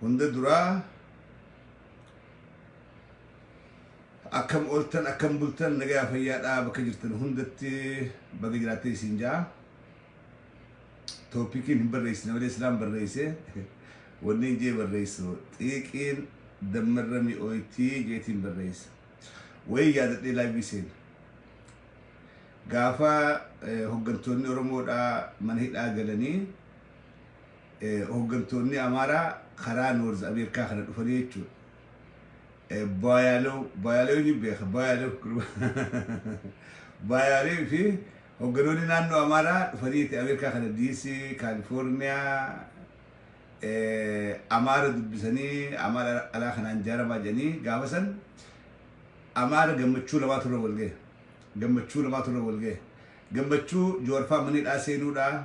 Hunda duraa akkam ooltan akkam bultan nagayaa fayyaadhaa bakka jirtan hundatti baga jiraattee isin jaa toopikiin hin barreessine malee silaan barreesse wanni hin jee barreessu xiiqiin dammarra mi'ooytii jeetiin barreessa wayii yaadadhee laaybii seena gaafa eh, hoggantoonni oromoodhaa mana hidhaa galanii hoggantoonni Amaaraa karaa Noorz Ameerikaa kana dhufanii jechuudha. Baayaaloo, Baayaaloo ni beeka, Baayaaloo Baayaaloo fi hogganoonni naannoo Amaaraa dhufanii Ameerikaa kana DC, Kaalifoorniyaa, Amaara dubbisanii Amaara alaa kanaan jaaramaa jedhanii gaafa san Amaara gammachuu lamaa turre walga'e. Gammachuu lamaa turre walga'e. Gammachuu Jawaarfaa manidhaa seenuudhaa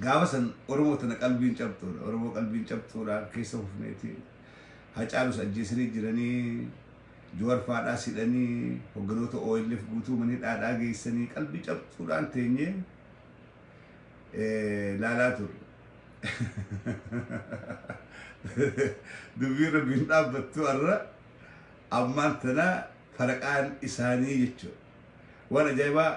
Gaafa san Oromoo tana qalbiin cabxuudha. Oromoo qalbiin cabxuudha keessa hufneeti. Hacaalus ajjeesanii jiranii. Juwar faadhaa sidhanii hogganoota OLF guutuu mana hidhaadhaa geessanii qalbii cabxuudhaan teenyee eh, laalaa turre. Dubbii rabbiin dhaabbattu har'a ammaan tana faraqaan isaanii jechuudha. Waan ajaa'ibaa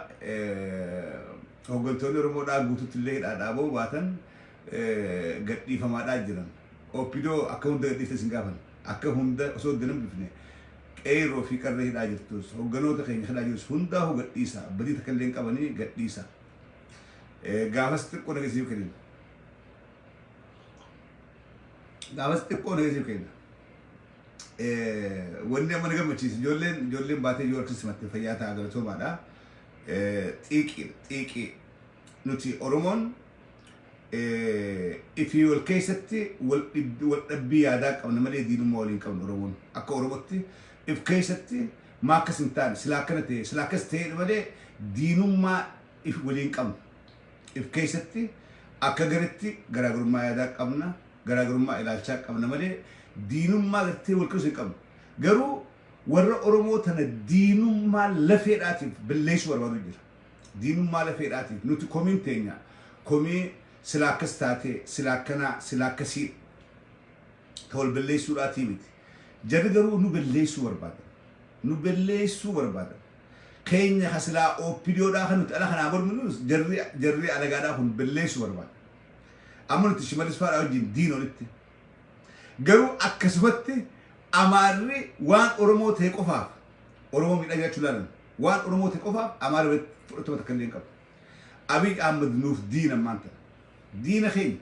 hoggantoonni Oromoo dhaa guututti illee hidhaa dhaaboo baatan gad dhiifamaa dhaa jiran. Opdo akka hunda gad dhiifte sin gaafan. Akka hunda osoo adda hin hambifne qeerroo fi qarree hidhaa jirtus hogganoota keenya hidhaa jirus hundaa hoo gad dhiisa. Badii takka illee hin qabanii gad dhiisa. Gaafas xiqqoo nageessiif kennin. Gaafas xiqqoo nageessiif kenna. Wanni amma na gammachiisu ijoolleen ijoolleen baatee yoo argisiis mattee fayyaa ta'a galatoomaadha. Xiiqii xiiqii nuti Oromoon ifii wal keessatti wal dhabbii yaadaa qabna malee diinummaa waliin qabna Oromoon. Akka Oromootti if keessatti maa akkas hin taane silaa akkana ta'e silaa akkas ta'e malee diinummaa if waliin qabna. If keessatti akka garitti garaagarummaa yaadaa qabna, garaagarummaa ilaalchaa qabna malee diinummaa gartee wal qirsu hin qabnu. Garuu warra Oromoo tana diinummaa lafeedhaatiif balleessuu barbaadu jira. Diinummaa lafeedhaatiif nuti komiin teenya komii silaa akkas taatee, silaa akkanaa, silaa akkasii ta wal balleessuudhaatii miti. Jarri garuu nu balleessuu barbaadan. Nu balleessuu barbaadan. Keenya ka silaa OPDO dhaa ka nuti ala kanaa morminunus jarri jarri alagaa dhaa kun belleessu barbaada. Amma nuti Shimalis faa dhaa wajjin diina olitti. Garuu akkasumatti Amaarri waan Oromoo ta'e qofaaf Oromoo miidhaa jiraachuu ilaalan. Waan Oromoo ta'e qofaaf Amaarri walitti fudhatama takka illee hin qabu. Abiy Ahmed nuuf diina ammaan tana. Diina keenya.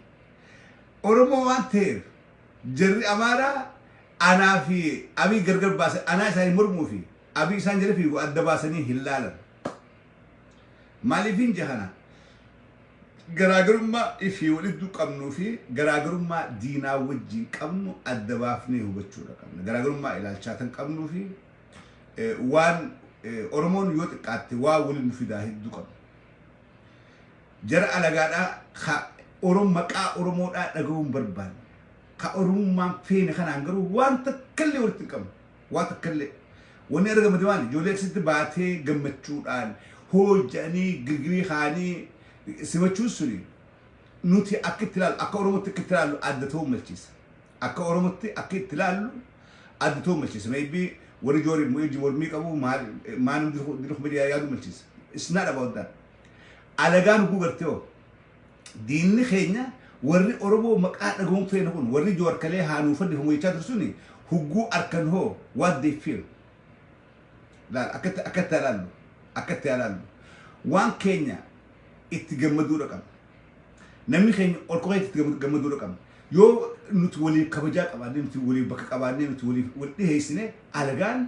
Oromoo waan ta'eef jarri Amaaraa anaa fi Abiy gargar baase anaa isaanii mormuu fi Abiy isaan jala fiigu adda baasanii hin laalan. Maaliifin jahana garaagarummaa ifii walidduu qabnuu fi garaagarummaa diinaa wajjiin qabnu adda baafnee hubachuudha qabna. Garaagarummaa ilaalchaatan qabnuu fi waan Oromoon yoo xiqqaatte waa waliin nu fidaa hedduu qabna. Jara alagaadhaa ka Orom maqaa Oromoodhaa dhaga'uun barbaanne. Ka Oromummaan feene kanaan garuu waan takkallee walitti hin qabnu. waa takkallee wanni argamate maali ijoollee akkasitti baatee gammachuudhaan hoo jedhanii girgirii kaanii simachuun suni nuti akka itti ilaallu akka oromootti akka itti ilaallu adda ta'uu malchiisa akka oromootti akka itti ilaallu adda ta'uu malchiisa maybe warri joori wajji mormii qabu maal maal dirqu dirqu midiyaa yaadu malchiisa it's not about that alagaan huguu gartee hoo Diinni keenya warri Oromoo maqaa dhagahuun feena kun warri Jawar kalee haa nuu fannifamu jechaa ture suni hugguu arkan hoo what they feel? Laal akka itti akka itti haa laallu akka itti haa laallu waan keenya itti gammaduudha qabna. Namni keenya ol ka'ee itti gammadu- gammaduudha qabna. Yoo nuti waliif kabajaa qabaannee nuti waliif bakka qabaannee nuti waliif wal dhiheessine alagaan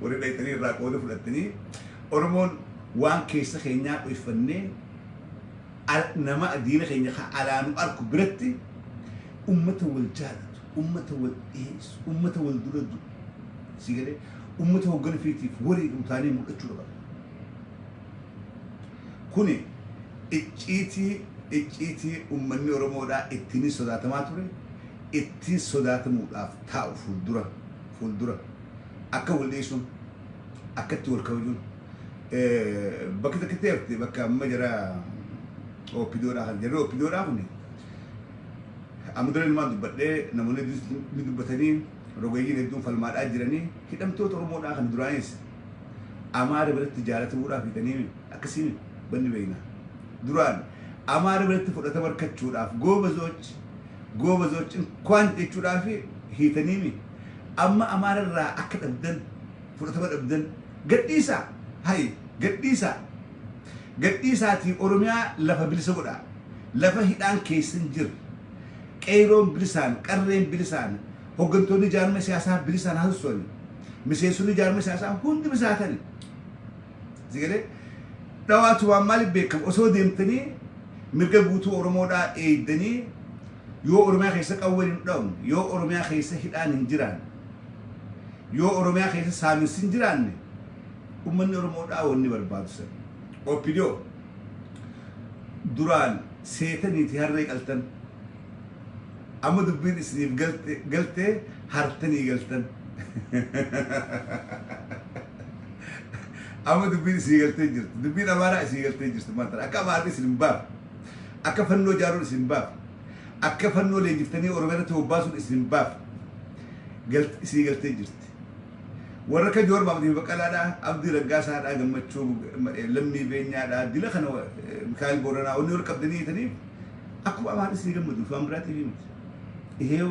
Warri dhayxanii irraa qooda fudhattanii Oromoon waan keessa keenyaa dhoyfannee nama diina keenya kan alaa nu arku biratti ummata wal jaalatu, ummata wal dhiyeessu, ummata wal dura du'u. Sii galee ummata hoggana fiitiif warri utaanii mul'achuu qaba. Kuni icciitii icciitii ummanni Oromoodhaa ittiin sodaatamaa ture ittiin sodaatamuudhaaf taa'u fuuldura fuuldura. akka wal dhiisuun akka itti wal kabajuun eh, bakki takkitti hafte bakka amma jara opidoodhaa kan jarri opidoodhaa kun amma dura ilmaan dubbadhee namoonni hedduun ni dubbatanii rogeeyyiin hedduun falmaadhaa jiranii hidhamtoota oromoodhaa kan duraanis amaara biratti jaalatamuudhaaf hidhanii akkasiin banni beekna duraan amaara biratti fudhatama argachuudhaaf goobazoch goobazoch inkwaan jechuudhaaf hiitanii Amma Amaara irraa akka dhabdan, fudhatama dhabdan, gadhiisaa! Hayi, gadhiisaa! Gadhiisaatii Oromiyaa lafa bilisa godhaa! Lafa hidhaan keessa hin jirre, Qeeyroon bilisaan, Qarreen bilisaan, hoggantoonni jaarmaya siyaasaa bilisaan haa sosso'anii, miseensonni jaarmaya siyaasaa hundi bilisaa haa ta'anii! Sigalee dhawaa tumaan maaliif beekama osoo deemtanii mirga guutuu Oromoodhaa eeydanii yoo Oromiyaa keessa qawween hin dhawamne, yoo Oromiyaa keessa hidhaan hin jiraanne, yoo Oromiyaa keessa saaminsi hin jiraanne ummanni Oromoodhaa wanni barbaadu san. OPDO duraan seetaniiti harree qaltan. Amma dubbiin isiniif galte galtee hartanii galtan. Amma dubbiin isii galtee jirti. Dubbiin Amaaraa isii galtee jirti maal tana. Akka Amaarri isin hin baafne. Akka fannoo jaaruun isin hin baafne. Akka fannoo leenjiftanii Oromiyaa irratti bobbaasuun isin hin baafne. Galt isii galtee jirti. Warra akka Joor Maamdii Baqqalaadhaa, Abdii Raggaasaadhaa, Gammachuu Lammii Beenyaadhaa, dila kana Mikaa'el Booranaa wanni wal qabdanii hiitaniif akkuma Amaarri isinii gammaduuf waan biraatiif himti. Iheew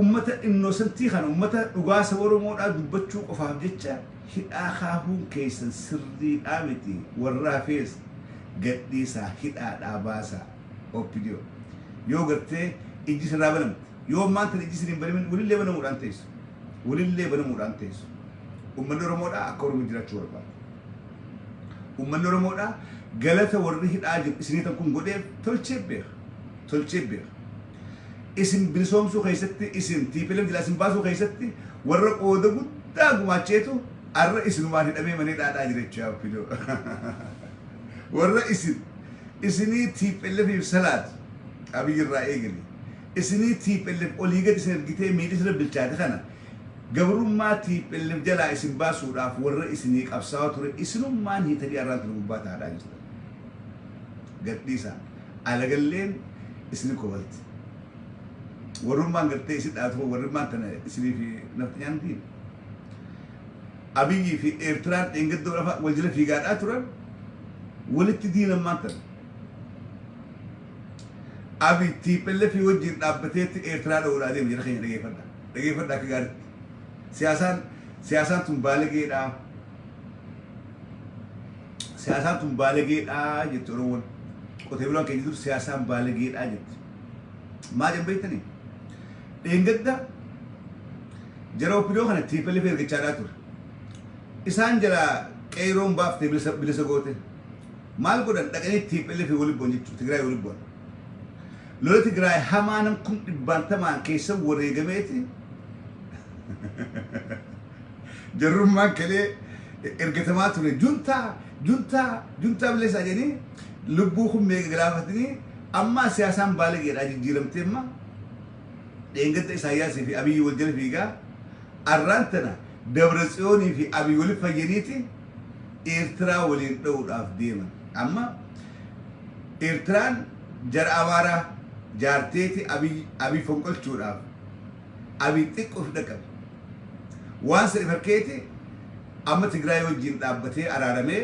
Ummata innocentii kana ummata dhugaa saba oromoodhaa dubbachuu qofaaf jecha hidhaa kaahuun keessan sirriidhaa miti warra hafees gadhiisaa hidhaadhaa baasaa opdo yoo gartee ijji isinraa banamte yoo ammaan tana ijji isin hin banamin wolillee banamuudhaan teessu wolillee banamuudhaan teessu ummanni oromoodhaa akka oromo jiraachuu barbaada ummanni oromoodhaa galata warri hidhaa jiru isinii tan kun godheef tolchee beeka tolchee beeka isin bilisoomsuu keessatti isin tplf jilaa isin baasuu keessatti warra qooda guddaa gumaacheetu arra isinumaan hidhamee manee dhaadhaa jirecha opdo warra isin isinii tplf if salaat abiyyi irraa eegale isinii tplf olii gad isin ergitee miilli sirra bilchaate kana gabrummaa tplf jalaa isin baasuudhaaf warra isinii qabsaawaa ture isinummaan hiitanii arraan tana gubbaa taadhaa jirtan gadhiisaa Alagalleen isini kofalti warrummaan gartee isi dhaatu warrummaan tana isini fi nafxanyaan diin Abiyyi fi Eertiraan dheengadda lafa wal jala fiigaadhaa turan walitti diinammaan tana Abiy tiipelle fi wajjiin dhaabbateetti Eertiraa dha'uudhaa deema jira keenya dhageeffadha dhageeffadha akka gaaritti siyaasaan siyaasaan tun baalageedhaa Siyaasaan tun baalagee dhaa jetti Oromoon. Qotee bulaan keenya dur siyaasaan baalagee dhaa jetti. Maa jedhan beektanii? Dheengadda jara oppidoo kana TPLF ergachaa dhaa ture. Isaan jala qeeyroon baaftee bilisa, bilisa goote. Maal godhan dhaqanii TPLF wali bu'an jechuudha. Tigraay wali bu'an. Lola Tigraay hamaa nam kum dhibbaantamaan keessa wareegameeti Jarrummaan kelee ergatamaa ture juntaa juntaa juntaa bileessaa jedhanii lubbuu kun meeqa galaafatanii ammaa siyaasaan baalageedhaa jijjiiramtee amma dheengadda Isaayyaasii fi Abiyyi wal jala fiigaa arraan tana Dabra Tsiyoonii fi Abiyyi walitti fayyaniiti Eertiraa waliin dha'uudhaaf deeman. Amma Eertiraan jara Amaaraa jaarteeti Abiyyi Abiyyi fonqolchuudhaaf Abiy xiqqo si dhaqqabe. Waan sadi fakkeeti amma Tigraay wajjin dhaabbatee araaramee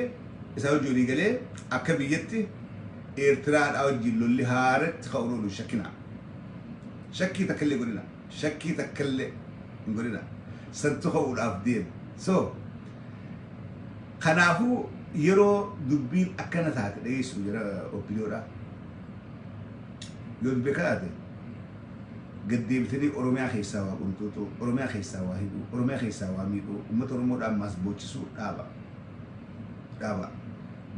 isaan wajjin walii galee akka biyyatti Eertiraadhaa wajjin lolli haaratti ka'uun oolu hin shakkinaa. Shakkii takka illee godhina. Shakkii takka illee hin godhina. Santu ka'uudhaaf deema. So kanaafuu yeroo dubbiin akkana taate dhageessu jira opiniyoodhaa. Yoo dubbii akkana taate gad deebitanii Oromiyaa keessaa waa qunxuuxuu, Oromiyaa keessaa waa hidhuu, Oromiyaa keessaa waa miidhuu, uummata Oromoo dhaan maas boochisuu dhaaba. Dhaaba.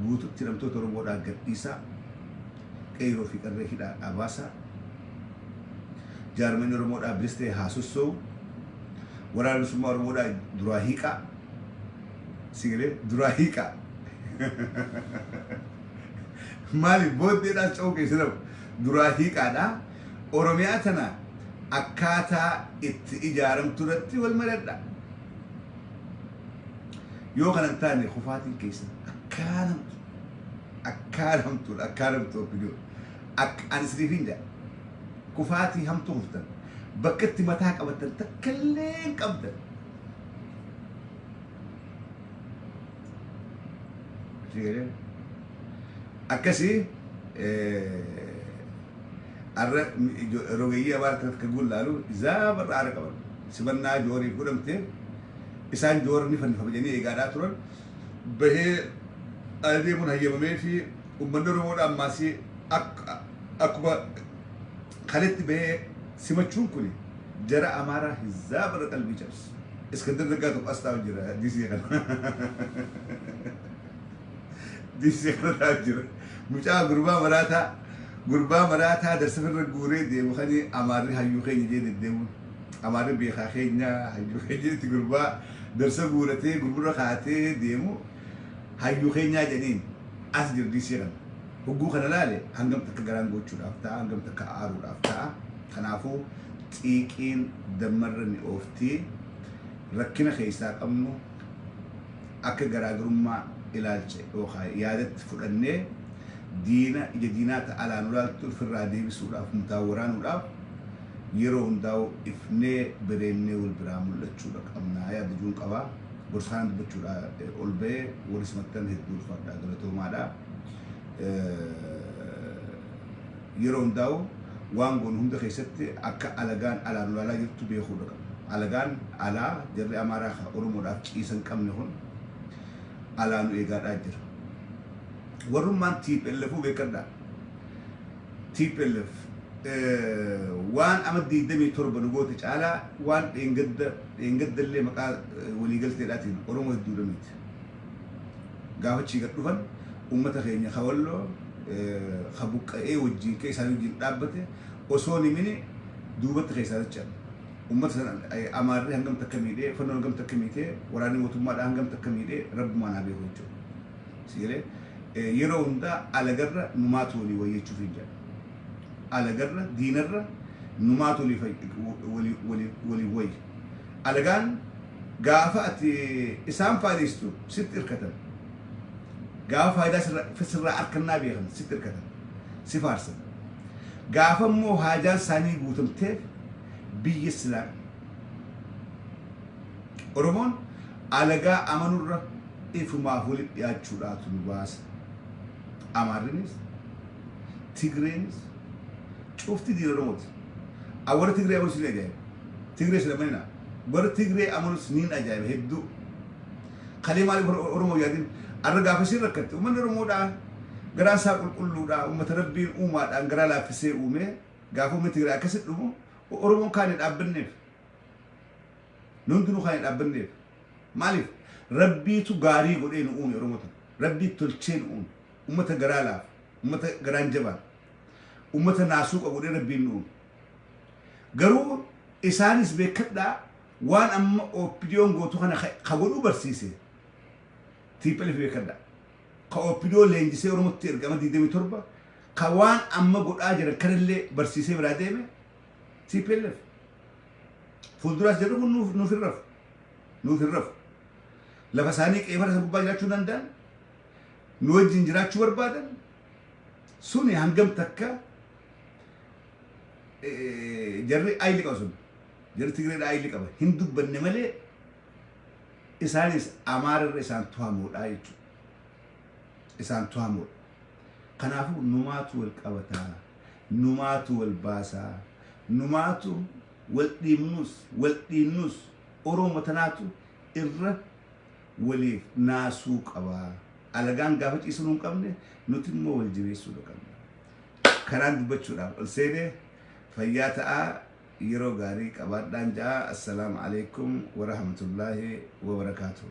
Guututti hidhamtoota Oromoo dhaa gad dhiisaa, qeeyroo fi qarree hidhaa dhaa baasaa, jaarmayni Oromoo dhaa bilis ta'ee haa sossoo'u, waraana bilisummaa Oromoo dhaa duraa hiiqaa, si galee duraa hiiqaa. Maaliif booddee dhaas ce'uu keessan duraa hiiqaa dhaa. Oromiyaa tana akkaataa itti ijaaramtu irratti wal maradha. Yoo kana hin taane kufaatiin keessan akkaaramtu akkaaramtu akkaaramtu obbidoo akka ani isiniif hin jedha kufaatii hamtuu kuftan bakka itti mataa qabatan takka illee hin qabdan. Akkasii Arra rogeeyyii abaar akkanatti kan gullaalu zaaba irraa aara qaban. Simannaa Jooriif godhamte isaan Joor ni fannifama jedhanii eegaadhaa turan. Bahee ala deemuun hayyamamee fi ummanni Oromoodhaa ammaasii akkuma kaletti bahee simachuun kuni jara Amaaraa hizaaba irra qalbii cabse. Iskandar Naggaa tokko as taa'u jira disii kana. Diisee kanarraa jira. Mucaa gurbaa maraataa gurbaa maraataa darsafirra guuree deemu kani amaarri hayyuu keenya jee deddeemuun. Amaarri beekaa keenya hayyuu keenya jedhetti gurbaa darsa guuratee gurgurra kaatee deemu hayyuu keenyaa jedhaniin as jira diisee kana. Hogguu kana laale hangam takka garaan goochuudhaaf ta'a hangam takka aaruudhaaf ta'a. Kanaafuu xiiqiin dammarra mi'oofti rakkina keessaa qabnu akka garaagarummaa ilaalcha yookaan yaadatti fudhannee diina ija diinaa ta alaa nu laaltu ifirraa deebisuudhaaf umtaa waraanuudhaaf yeroo hundaa'u ifnee bereennee wal biraa mul'achuudha qabnaa yaadajuun qabaa gorsaana dubbachuudha ol ba'ee warri simattan hedduu ulfaadhaa galatoomaadha. Yeroo hundaa'u waan goonu hunda keessatti akka alagaan alaa nu ilaalaa jirtu beekuudha qabna. Alagaan alaa jarri Amaaraa ka Oromoodhaaf ciisa hin qabne kun alaa nu eegaadhaa jira. Warrummaan TPLFuu beekkadhaa. tplf waan ama 27 nu goote caalaa waan dheengadda dheengaddallee maqaa waliigalteedhaatiin Oromoo hedduudha miite. Gaafa achii gad dhufan uummata keenya ka Walloo ka buqqa'ee wajjiin ka isaanii wajjiin dhaabbate osoo hin himini duubatti keessaa dachan. Uummata san Amaarri hangam takka miidhee, fannoon hangam takka miitee, waraanni mootummaadhaa hangam takka miidhee rabbumaan haa beeku jechuudha. Si galee yeroo hundaa alagarra numaatu walii wayya jechuuf hin jedha. Alagarra diinarra numaatu walii waliif wayya. Alagaan Gaafa ati isaan faalistu sitti irkatan. Gaafa faayidaa sirra- sirraa arkannaa beekan sitti irkatan. Si faarsan. Gaafa immoo haajaan isaanii guutamteef biyya silaa Oromoon alagaa amanurra ifumaaf walitti dhiyaachuudhaatu nu baasa. Amaarrinis, Tigreenis, cufti diina Oromooti. An warra Tigree amanus nin ajaa'iba. Tigrees hin amaninaa. Warra Tigree amanus nin ajaa'iba hedduu. Kalee maaliif warra Oromoo hin yaadin? Arra gaafa isin rakkatte uummanni Oromoodhaa garaan isaa qulqulluudhaa uummata Rabbiin uumaadhaan garaa laaffisee uumee gaafa uummanni Tigree akkasi dhumu Oromoon kaane dhaabbanneef. Nu hundinuu kaane dhaabbanneef. Maaliif? Rabbiitu gaarii godhee nu uume Oromoo tana. Rabbii tolchee nu uume. Uummata garaa laafu. Uummata garaan jabaan. ummata naasuu qabudhe rabbiin nuun garuu isaanis beekadhaa waan amma opdiyoon gootu kana ka godhuu barsiise tiiphelef beekadhaa ka opidiyoo leenjisee oromotti ergama 27 ka waan amma godhaa jiran kanallee barsiisee biraa deeme tiiphelef fuulduraas jedhu kun nuuf nuuf hin rafu nuuf hin rafu lafa isaanii qeefara isa gubbaa jiraachuu danda'an nu wajjin jiraachuu barbaadan Suni hangam takka jarri ayilli qaba sun jarri Tigreedha ayilli qaba hin dubbanne malee isaanis Amaara irra isaan tuhamoodha jechuudha. Isaan tuhamoodha. Kanaafuu numaatu wal qabataa, numaatu wal baasaa, numaatu wal dhiibnus, wal dhiinnus Oromoo tanaatu irra waliif naasuu qaba. Alagaan gaafa ciisu nuun qabne nuti immoo wal jabeessuudha qabna. Kanaan dubbachuudhaaf ol seenee fayyaa ta'aa yeroo gaarii qabaadhaan ja'a assalaamu alaikum warahmatullaahi wabarakaatuhu.